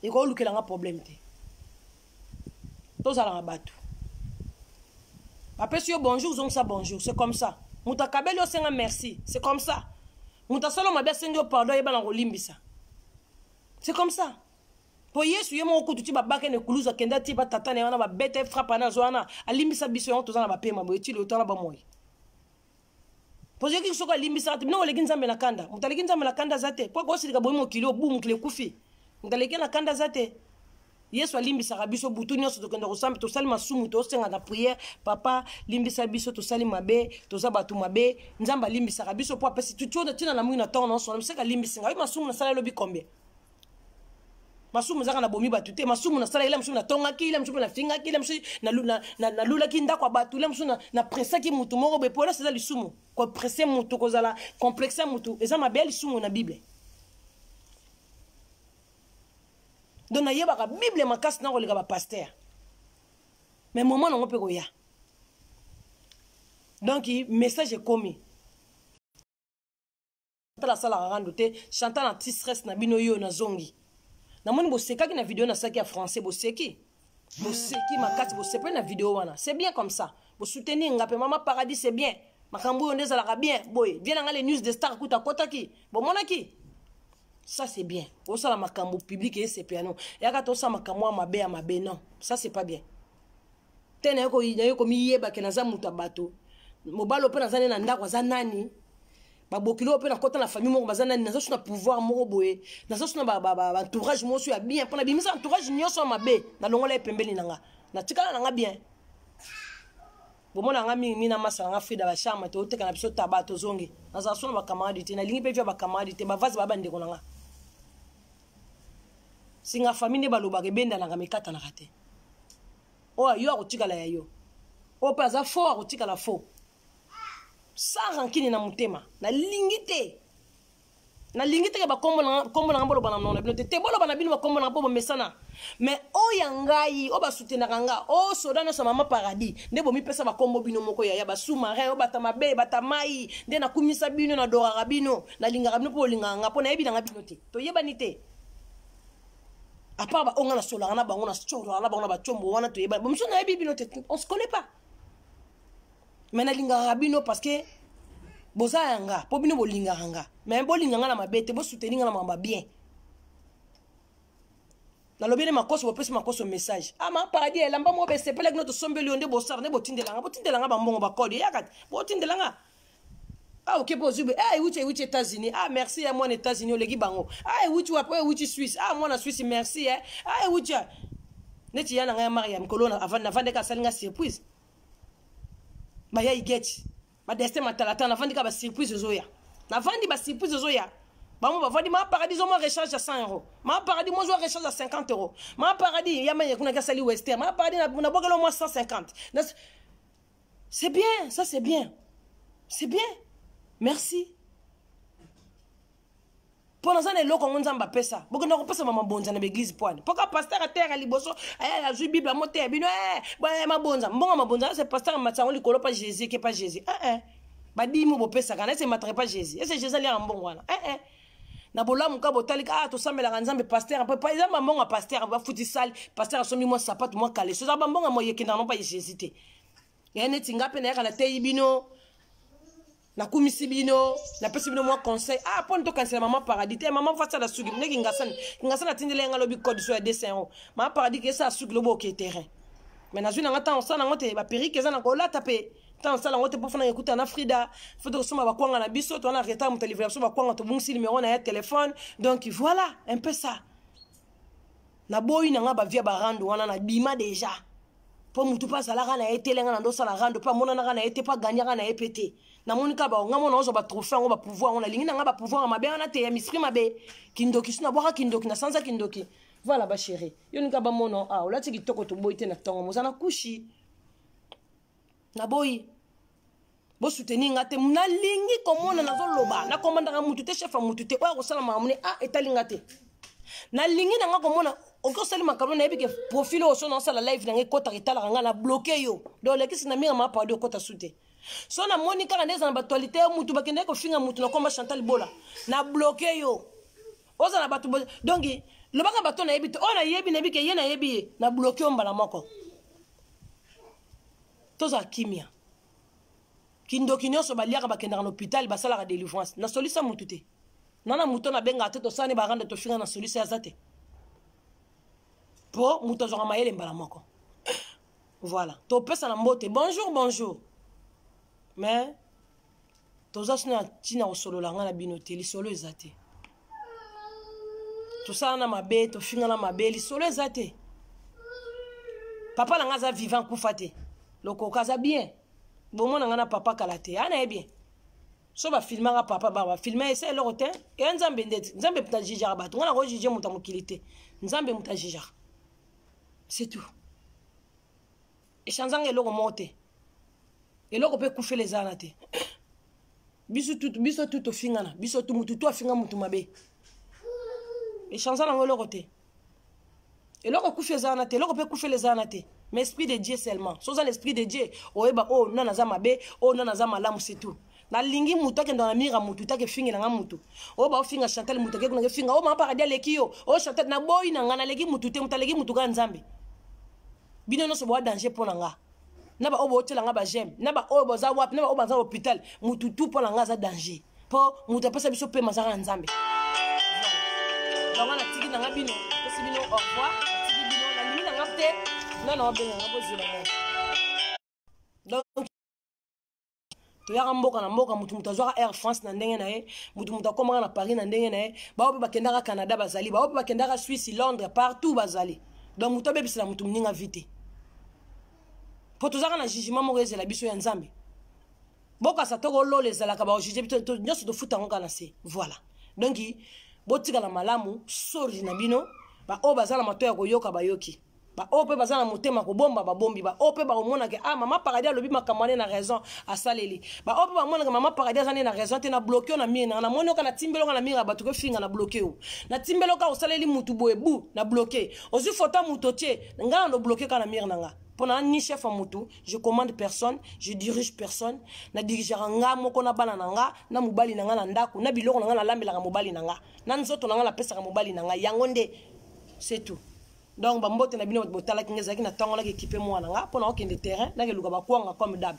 ekolukela nga problème te tozala na bato bapesi yo bonjour ozongisa bonjour c'est comme ça moto akabeli osenga merci c'est comme ça moto asala mabe asengi yo pardon ayebana kolimbisa c'est comme ça mpo yesu ye moko kutu ti babaka na ekulusu akenda ti batata na ye wana babeta ye frappe ana azwa wana alimbisa biso yango toza na bapema boye ti lotala bomoi pozo yoki soko alimbisaka te bino oleki nzambe na kanda moto aleki nzambe na kanda aza te mpo akosilika boyi mokili oyo bu mokili ekufi moto aleki na kanda aza te yesu alimbisaka biso butu nyonso tokenda kosambe tosali masumu tosenga na priere papa limbisa biso tosali mabe toza bato mabe nzambe alimbisaka biso mpo apesi tutionda ntina na moi na ntongo na osona moseka alimbisi ngai masumu nasala lobi combien masumu ezaka na bomi bato te masumu nasalaki la mosusu natongaki la mosusu mpe nafingaki la mosusu nalulaki ndako ya bato la mosusu napresaki motu moko boye polese eza lisumu koprese motu kozala complexe ya motu eza mabe ya lisumu na bible donc nayebaka bible makasi nakoleka bapaster mais momo nango mpe koya donc message ekomi chantal asalaka rando te chantal anti stress na bino yo nazongi namoni bosekaki na video nasalaki ya français boseki boseki makasi bosepeli na video wana c'est bien comme ça bosoutenir nga mpe mama paradis c'est bien makambo oyo nde ezalaka bien boye vie na ngai le news de star kuta akotaki bomonaki ça c'est bien osala makambo public eyesepeano yaka tosala makambo ya mabe ya mabe non ça c'est pas bien te naye komiyeba ke naza moto ya bato mobali ope naza nde na ndako aza nani babokili oyo mpe nakota na famille moko baza nani naza so na pouvoir moko boye naza so na baentourage moko so ya bien mpo nabimisa entourage nyonso ya mabe nalongola ye pembeni na nga natikala na nga bien bomona nga mingi mingi na masa na nga frida bacharme te oteka na biso taba tozongi nazala so na bacamarade te nalingi mpe vya bacamarade te bavase baya bandeko na nga singa famille nde balobaka ebendanaka mikatanaka te oyo ayo akotikala ya yo oyo mpe aza fo akotikala fo sans rankine na motema nalingi te nalingi teke bakombo nanga boloba na nona bino te te boloba na bino bakombo nanga mpo bomesana mais oyo ya ngai oyo basutenaka nga o soda nyonso mama paradis nde bomipesa bakombo bino moko yaya basumare oyo bata mabe bata mai nde nakumisa bino nadoraka bino nalingaka bino mpo bolingaka nga mpo nayebi nanga bino te toyebani te apart baonga nasolaka na bango nasolaka na bango na bacombo wana toyebani bamosusu nayebi bino te on se connaît pas me nalingaka bino parce que boza ya nga mpo bino bolingaka nga me bolinga nga na mabe te bosuteni nga na mamba bien nalobi nde makoso bopesi makoso message ama ah, paradis elamba moko besepelaki no tosombeli yo nde bosala nde botindelanga botindelanga bambongo bakode eyaka te botindelanga ah okepe ozwi boye ah ewuti ewuti états-unis ah merci ya mwana états-unis oleki bango ah ewuti wapi oyo ewuti suisse ah mwana suisse merci eh ah ewuti neti ya na ngai ya mariam mikolo navandeka asali ngai surprise baya igeti badestin matalata navandi ka basurprise ezoya navandi basurprise ezoya bango bavandi ma paradis omwa recharge ya 100 euro ma paradis mozwa recharge ya 50 euro ma paradis ya mene kuna kasali wester ma paradis nabwakela omwa 150 C'est bien, ça c'est bien. C'est bien. Merci. mpo naza na eloko yango nzambe apesa bokenda kopesa mamabonza na baeglize pwani mpo ka paster ateyaka liboso eh, azwi bible amoteya bino eh, eh, mabonza mbongo mabonza ese paster amati yango likolo pa jésus eke pa jésus badimi bopesaka na ese emataka pa jésus ese jésus aliaka mbongo wana na bolamu ka botali ka ah, tosambelaka nzambe paster mpe eza bambongo ya paster bafuti sali paster asombi mwa sapato mwa kaleso eza bambongo ya moye ekendaka nopa jésus te ya neti nga mpe nayaka nateyi bino nakumisi bino napesi bino mwa conseil ah mpo nitokanisela mama paradis te mama fasi ala suki ndenge kingasani kingasani atindeli yanga lobi code so ya 200 euro mama paradis kesa asuki lobi oke terrain mais nazwi nanga ntango osala nango te baperike eza na kolata mpe ntango osala yango te mpo fana ekuta na frida fo tokosomba bakwanga na biso toza na retard moto alivela biso bakwanga tobungisi nimero na ya telefone donc voilà un peu ça naboyi na ngai bavia barando wana nabima deja mpo motu mpe azalaka na ye te lenga na nde osala rando mpe amonanaka na ye te mpo aganyaka na ye mpe te namoni kaka bango ngai mona ozwa batrophée yango bapouvoir yango nalingi na ngai bapouvoir ya mabe wana te ya mispri mabe kindoki so nabwaka kindoki nasanza kindoki voilà bachéri yo nika bamona ah olati kitoko toboyi te na ntongo moza na kushi naboyi bosuteni nga te nalingi komona nazoloba nakomandaka mutu te chef ya mutu te oyo akosala makambo ne a ah, etali nga te nalingi na nga komona oki osali makambo nayebi ke profil oyo sona osala live na nga ekotaka etalaka nga na bloke yo do olekisi na minga mapado okota su te so namoni kaka nde eza na batualite yo mutu bakendaki kofinga mutu na komba chantal bola na bloke yo ozala bato donki lobaka bato nayebi te oyo nayebi nayebi ke ye nayebi ye na bloke yo mbala moko tozala kimia kindoki nyonso baliaka bakendaka na hôpital basalaka délivrance na solisa motu te na na moto nabengaka te tosala ne baranda tofinga na solisa aza te mpo moto azwaka mayele mbala moko voilà topesana mbote bonjour bonjour mais toza sino na ntina kosolola ngai na bino te lisolo eza te tosala na mabe tofinga na mabe lisolo eza te papa na ngai aza vivant kufa te lokoka aza bien bomona ngai na papa kala te ana ye bien so bafilmaka papa ba bafilma esa eloko te eya nzambe ndeti nzambe moto ajijaka bato ngai nakojuge moto ya mokili te nzambe moto ajijaka c'est tout echanzanga eloko moko te eloko mpe ekufela eza wana te biso tutu biso tutu tofingana biso tu mutu tu afinga mutu mabe echanza nango eloko te eloko ekufi eza wana te eloko mpe ekufela eza wana te mais esprit de dieu seulement so oza na esprit de dieu oyeba oyo oh, nana aza mabe oyo oh, nana aza malamu c'est tout nalingi motu akenda na mire ya motu te akefingela nga motu oyo oh, baofinga chantal motu ake kuna kefinga oyo mama paradi aleki yo oyo chantal naboyi na nga naleki motu te motu aleki motu kaka nzambe bino nyonso boa danger mpo na nga na baoyo bootyela nga bageme na baoyo baza wapi na baoyo baza hôpital motu tu mpo na nga aza danger mpo moto apesa biso mpema azaka na nzambe yango natiki na nga bino pesi bino au revoir natiki bino nalingi na nga te nana obenga nga bozela donc toyaka mboka na mboka motu motu azwaka air france na ndenge na ye motu motu akomaka na paris na ndenge na ye baoyo mpe bakendaka canada bazali baoyo mpe bakendaka suisse londres partout bazali donc motu abebisela motu moninga vi te mpo tozalaka na jugement moko ezela biso ya nzambe bokasa toko lola ezalaka baojuge biso nyonso tofuta yango kaka na se voilà donc botikala malamu sori na bino baoyo baza na mato ya koyoka bayoki baoyo mpe baza na motema kobomba babombi baoyo mpe bakomonaka ah mama paradis alobi makambo ane na raison asaleli baoyo mpe bamonaka mama paradis aza nde na raison te na bloke yo na mire nanga namoni oka natimbeli oka na mire ya bato kofinga na bloke yo natimbeli oka osaleli motu boye bu na bloke ozwi foto ya moto otie ngai na nobloke kaka na mire na nga mpo na ni chef ya motu je commande personne je dirige personne na dirigeaka nga moko na bana na nga na mobali na nga na ndako na biloko na nga nalambelaka mobali na nga na nzoto na nga napesaka mobali na nga yango nde c'est tout donc bambote na bino bato botalaki nga ezalaki na ntango naki ekipe mwana nga mpo na okende terrain nakeluka bakwanga comme dab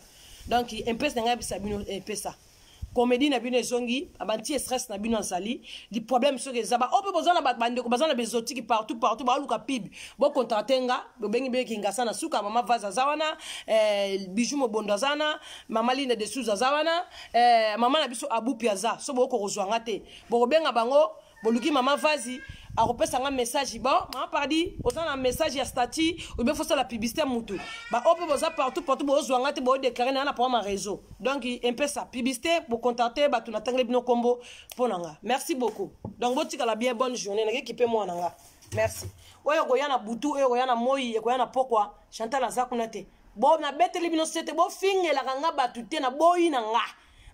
donc impese na ngai yebisa bino impesa eh, comédie na bino ezongi abanti stress na bino azali li problème soki eza baoyo oh, mpe boza na bandeko baza na bezotiki partout partout baoluka pib bocontracte nga bobengi bino kingasa na suka mama vase aza wana eh, bijou mobondo aza wana mama lina de sous aza wana eh, mama na biso abupi aza so bokokozwa nga te bokobenga bango boluki mama vazi akopesa nga message bon mama pardi oza na message ya statut obe fosala publicité ya motu baoyo mpe boza partout partout bozwa nga te boodeclare na na pama réseau donc empesa publicité bocontacte bato natangeli bino nkombo mpo na nga merci beaucoup donc botikala bien bonne journée nakeki mpe mwana nga merci oyo ekoya na butu oyo ekoya na moi ekoya na pokwa chantal aza kuna te bo nabeteli bino sete bofingelaka nga bato te na boyi na nga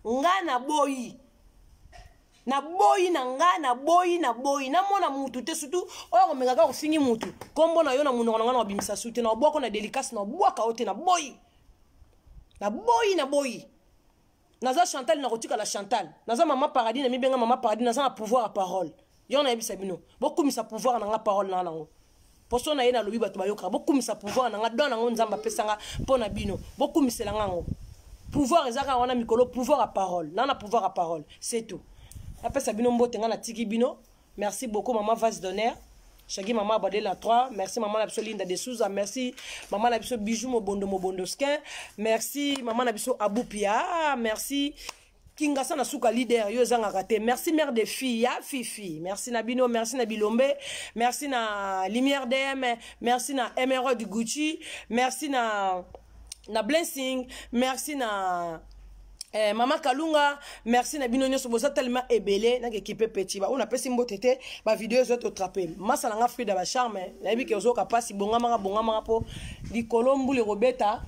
nga na boyi naboyi na nga naboyi naboyi namona mutu te surtout oyo akomeka kaka ofingi mutu nkombo na yo na monoko na nga na obimisa su te na obwako na delikasi na obwaka yo te naboyi naboyi naboyi naza chantal nakotikala chantal naza mama paradis na mibenga mama paradis naza na pouvoir ya parole yo nayebisa bino bokumisa pouvoir na nga parole na nga nango poso na ye nalobi bato bayokaka bokumisa pouvoir na nga don yango nzambe apesa nga mpo na bino bokumisela nga yango pouvoir eza kaka wana mikolo pouvoir ya parole na na pouvoir ya parole c'est tout napesa bino mbote nga natiki bino merci beaucoup mama vase d'honneur shagi mama abade la 3 merci mama na biso linda de souza merci mama na biso bijou mobondo mobondo skin merci mama na biso abupia merci kingasa na suka leader yo ezangaka te merci mère de fille ya fifi merci na bino merci na bilombe merci na lumière dm merci na emerald gucci merci na na blessing merci na Eh, mama kalunga merci na bino nyonso boza tellement ebele nakekipe petit baoyo napesi mbote te bavideo ezo totrape masa na nga frida bacharme nayebi ke ozoyoka mpasi bongamaka bongamaka mpo likolo mbula ekobeta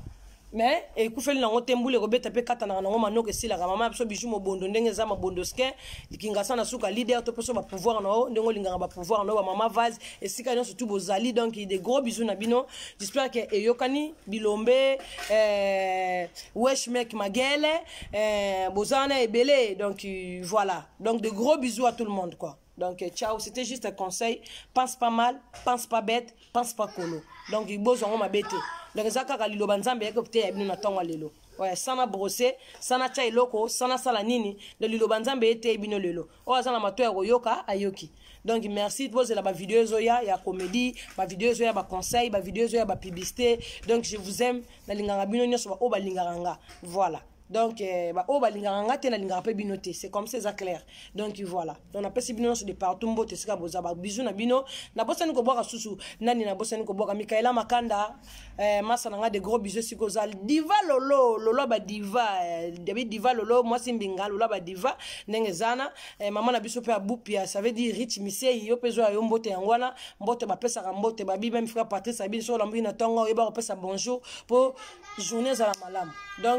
mais ekufeli nango te mbula ekobeta mpe katanaka nango manoko esilaka mama ya biso biju mobondo ndenge eza mabondo skin likingasa na suka leader to mposo bapouvoir na yo ndenge olingaka bapouvoir na yo bamama vase esika nyonso tu bozali donc de gros bizu na bino jispere ke eyokani bilombe eh, wesh mek magele eh, boza wana ebele donc voilà donc de gros bizu à tout le monde quoi Donc, euh, ciao, c'était juste un conseil. Pense pas mal, pense pas bête, pense pas colo. Donc, il bozo en ma bête. Donc, ça, quand il loba nzambe, il kopte ya bino tonga lelo. Ouais, sana brosser, sana chai loko, sana sala nini, le liloba nzambe ete bino lelo. Oh, azana mato ya koyoka, ayoki. Donc, merci, bozo la ba vidéo zoya, ya comédie, ba vidéo zoya, ba conseil, ba vidéo zoya, ba publicité. Donc, je vous aime, na linganga bino nyoso ba oba lingaranga. Voilà. donc eh, baoyo oh, balingaka nga te nalingaka mpe bino te c'est comme ça eza clair donc voilà donc napesi bino nyonso de partout mbote esika boza babizu na bino nabosani kobwaka susu nani nabosani kobwaka mikaela makanda eh, masa na nga de gros bizu esika oza diva lolo lolo badiva eh, david diva lolo mwasi mbinga lolo badiva ndenge ezana eh, mama na biso mpe abupia ça veut dire rich misei yo mpe zoya yo mbote yango wana mbote bapesaka mbote babi meme frère patrice abini soki olambuki na ntongo oyeba kopesa bonjour mpo journée ezala malamu donc